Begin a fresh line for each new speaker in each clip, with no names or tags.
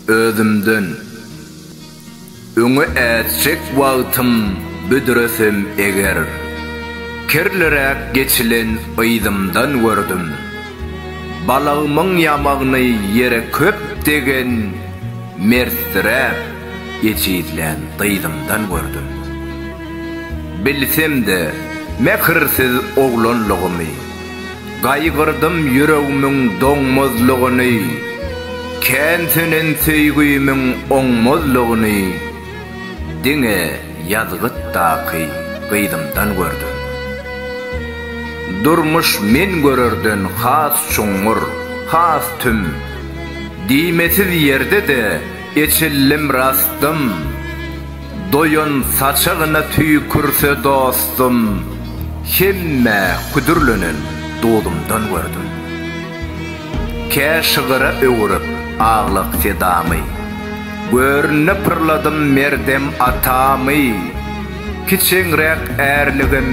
Özümden, öňe ätjek wagtym büdresem eger, kirliräk geçilen yzymdan gördüm. Balagymyň ýamagyny ýere köp degen mertdiräk ejizlän gyzymdan gördüm. Bilsem-de, mähirsiz oglanlygymy. Gaýgyrdym ýüregimiň doňmazlygyny, Kän sönen söýgimiň oňmazlygyny Diňe ýazgytdaky gyzymdan gördüm. Durmuş men görerden has çuňňur, has tüm, Diýmesiz ýerde-de Eçildim rastym, doýan saçagyna tüýkürse dostum, Hemmä küdürlenen duzumdan gördüm. Kä şygyra öwürip aglak sedamy, Görnüne pyrladym merdem atamy, Kiçeňräk ärligim,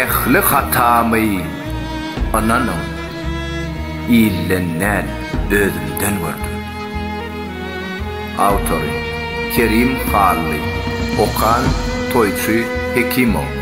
ähli hatamy, Ynanyň, ilden däl, özümden gördüm. Awtory, Kerim Hally. Okan, Toýçy Hekimow.